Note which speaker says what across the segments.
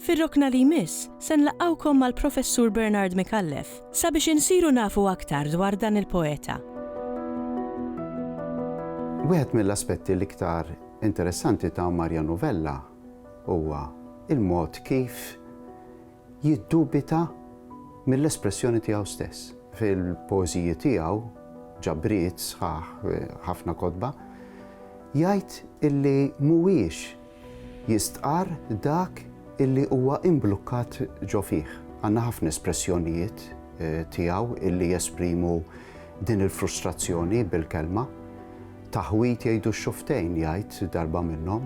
Speaker 1: Fir-rokna li jmiss, se nlaqqgħukom mal-Professur Bernard Micallef sabiex insiru nafu aktar dwar dan il-poeta.
Speaker 2: Wieħed mill-aspetti l-iktar interessanti ta' Marja Novella huwa l-mod kif jiddubita mill-espressjoni tiegħu stess. Fil-poeżiji tiegħu, ġabriet sħaħ, ħafna kotba, jgħid illi mhuwiex Jistqarr dak illi huwa imblukkat ġo fih. Għandna ħafna espressjonijiet tiegħu illi jesprimu din il-frustrazzjoni bil-kelma. Taħwid jgħidu x-xuftejn, jgħid darba minnhom.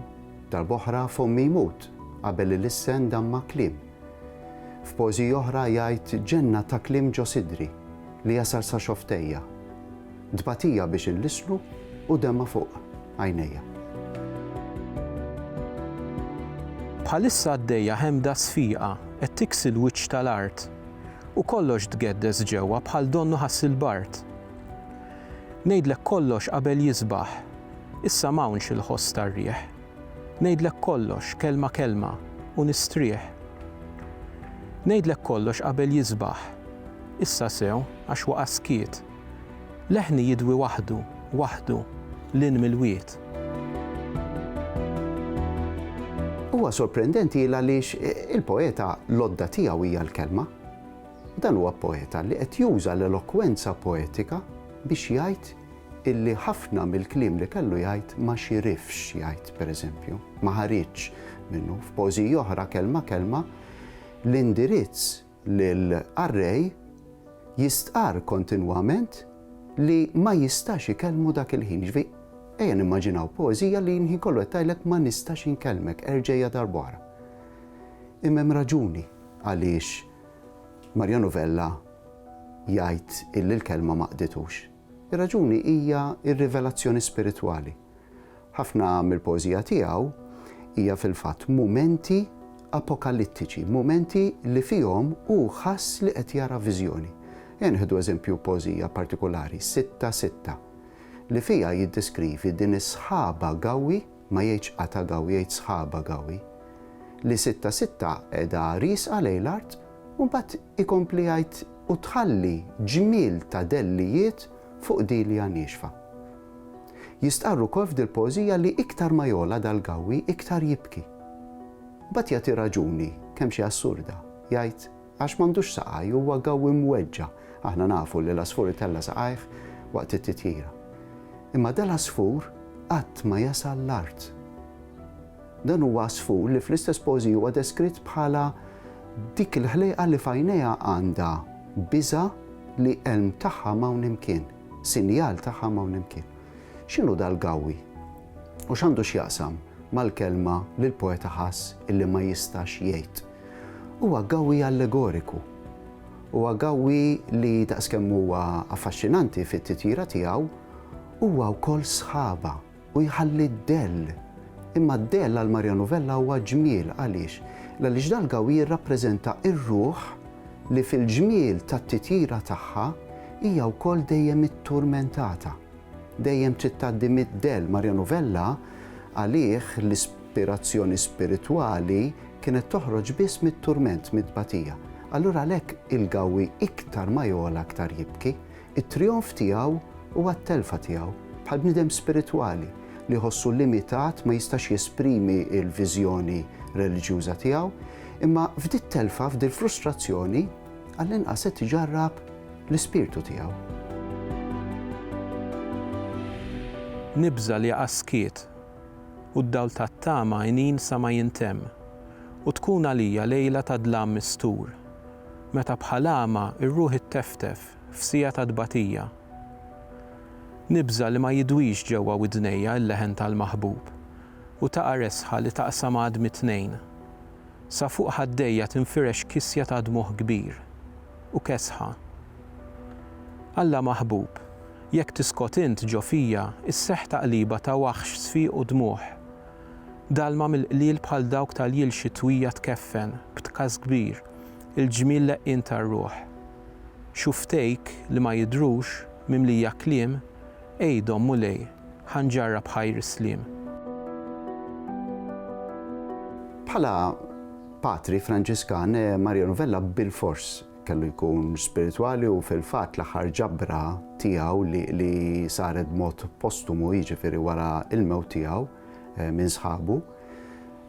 Speaker 2: Darba oħra fomm jmut qabel il-issen damma kliem. F'poeżiji oħra jgħid ġenna ta' kliem ġo sidri li jasal sa xoftejja. Tbatija biex inlisslu u dema fuq għajnejja.
Speaker 3: Bħalissa għaddejja ħemda sfiqa qed tiksi l-wiċċ tal-art u kollox tgeddes ġewwa bħal donnu ħass il-bard. Ngħidlek kollox qabel jisbaħ, issa m'hawnx il-ħoss tar-riħ. Ngħidlek kollox kelma kelma u nistrieħ. Ngħidlek kollox qabel jisbaħ, issa sew għax waqa' skiet. Leħni jidwi waħdu, waħdu, 'l hinn mill-wied.
Speaker 2: Huwa sorprendenti għaliex il-poeta l-għodda tiegħu hija l-kelma. Dan huwa poeta li qed juża l-elokwenza poetika biex jgħid illi ħafna mill-kliem li kellu jgħid ma xirifx jgħid pereżempju, ma ħariġx minnu f'pożiji oħra kelma kelma l-indirizz Lill-qarrej jistqarr kontinwament li ma jistax ikellmu dak il-ħin. Jiġifieri, ejja nimmaġinaw poeżija li l-ħin kollu qed tgħidlek ma nistax inkellmek, erġegħha darb'oħra. Imma hemm raġuni għaliex Marjanu Vella jgħid illi l-kelma ma qditux. Ir-raġuni hija r-rivelazzjoni spiritwali. Ħafna mill-poeżija tiegħu hija fil-fatt mumenti apokalittiċi, mumenti li fihom hu ħass li qed jara viżjoni. Ejja nieħdu eżempju poeżija partikulari, Sitta Sitta, li fiha jiddeskrivi din is-sħaba gawwi, ma jgħidx qata' gawi jgħid sħaba gawi, li sitta sitta qiegħda riesqa lejn l-art u mbagħad ikompli jgħid u tħalli ġmiel ta' dellijiet fuq dilja niexfa. Jistqarr ukoll f'dil-poeżija li iktar ma jogħla dal-gawi iktar jibki. Mbagħad jagħti raġuni, kemm xi assurda, jgħid, Għax m'għandux saqaj, huwa gawwi mweġġa'. Aħna nafu li l-għasfur itella' saqajh waqt it-titjira. Imma dal-għasfur qatt ma jasal l-art. Dan huwa għasfur li fl-istess poeżija huwa deskritt bħala dik il-ħlejqa li f'għajnejha għandha biża' li elm tagħha m'hawn imkien, sinjal tagħha m'hawn imkien. X'inhu dal-gawwi? U x'għandu x'jaqsam mal-kelma li l-poeta ħass illi ma jistax jgħid? Huwa gawwi allegoriku. Huwa gawwi li daqskemm huwa affaxxinanti fit-titjira tiegħu, huwa wkoll sħaba u jħalli d-dell. Imma d-dell għal Mario Novella huwa ġmiel. Għaliex? Għaliex dal-gawwi jirrappreżenta r-ruħ li fil-ġmiel tat-titjira tagħha hija wkoll dejjem itturmentata. Dejjem trid tgħaddi mid-dell. Mario Novella għalih l-. L-ispirazzjoni spiritwali kienet toħroġ biss mit-turment, mit-tbatija. Allura għalhekk il-Gawwi iktar ma jogħla aktar jibki. It-trijonf tiegħu huwa t-telfa tiegħu, bħal bniedem spiritwali li jħossu limitat ma jistax jesprimi l-viżjoni reliġjuża tiegħu. Imma f'dit-telfa, f'dil-frustrazzjoni, għall-inqas qed iġarrab l-ispirtu tiegħu.
Speaker 3: Nibża' li jaqa' skiet. u d-dawl tat-tama għinin sa ma jintemm, u tkun għalija lejla ta' dlam mistur, meta bħal għama r-ruħ itteftef f'siegħa ta' tbatija. Nibża' li ma jidwix ġewwa widnejja l-leħen tal-maħbub, u taqa' resħa li taqsam għadmi tnejn. Sa fuq ħaddejja tinfirex kisja ta' dmugħ kbir. u kesħa. Alla maħbub, jekk tiskot int ġo fija isseħħ taqliba ta' waħx sfiq u dmugħ. Dalma mill-qliel bħal dawk tal-jil xitwija tkeffen, b'tkaż kbir, il-ġmiel leqqien tar-ruħ. Xufftejk li ma jidhrux, mimlija kliem, għidhom, Mulej. Ħa nġarrab ħajr is-sliem.
Speaker 2: Bħala patri Franġiskan, eh, Mario Novella bilfors kellu jkun spiritwali u fil-fatt l-aħħar ġabra tiegħu li saret mod postumu jiġifieri wara il-mewt tiegħu eh, minn sħabu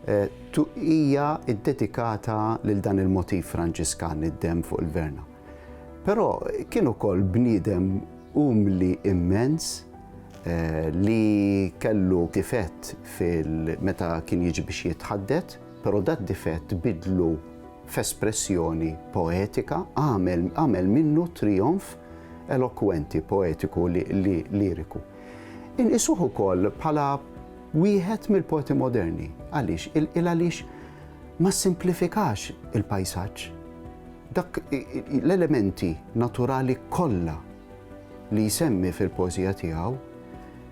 Speaker 2: eh, hija ddedikata lil dan il-motiv Franġiskan id-dem fuq il-verna. Però kien ukoll bniedem umli immens li kellu difett fil meta kien jiġi biex jitħaddet, però dad-difett biddlu f'espressjoni poetika, għamel għamel minnu trijonf elokwenti, poetiku, liriku. Inqisuh ukoll bħala wieħed mill-poeti moderni. Għaliex? Il-għaliex ma ssimplifikax il-pajsaġġ. Dak l-elementi naturali kollha li jsemmi fil-poeżija tiegħu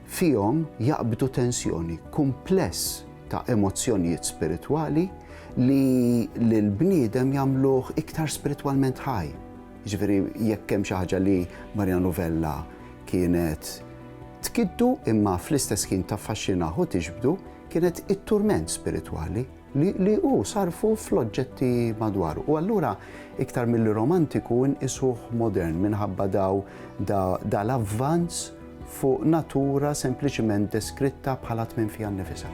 Speaker 2: fihom jaqbdu tensjoni, kumpless ta' emozzjonijiet spiritwali li lill-bniedem jagħmluh iktar spiritwalment ħaj. Jiġifieri jekk hemm xi ħaġa li Marian Rovella kienet tkiddu imma fl-istess ħin taffaxxinah u tiġbdu kienet it-turment spiritwali. li li hu sarfu fl-oġġetti madwaru. U allura iktar milli romantiku nqisuh modern minħabba daw da, dal-avvanz fuq natura sempliċiment deskritta bħala tmiem fiha nnifisha.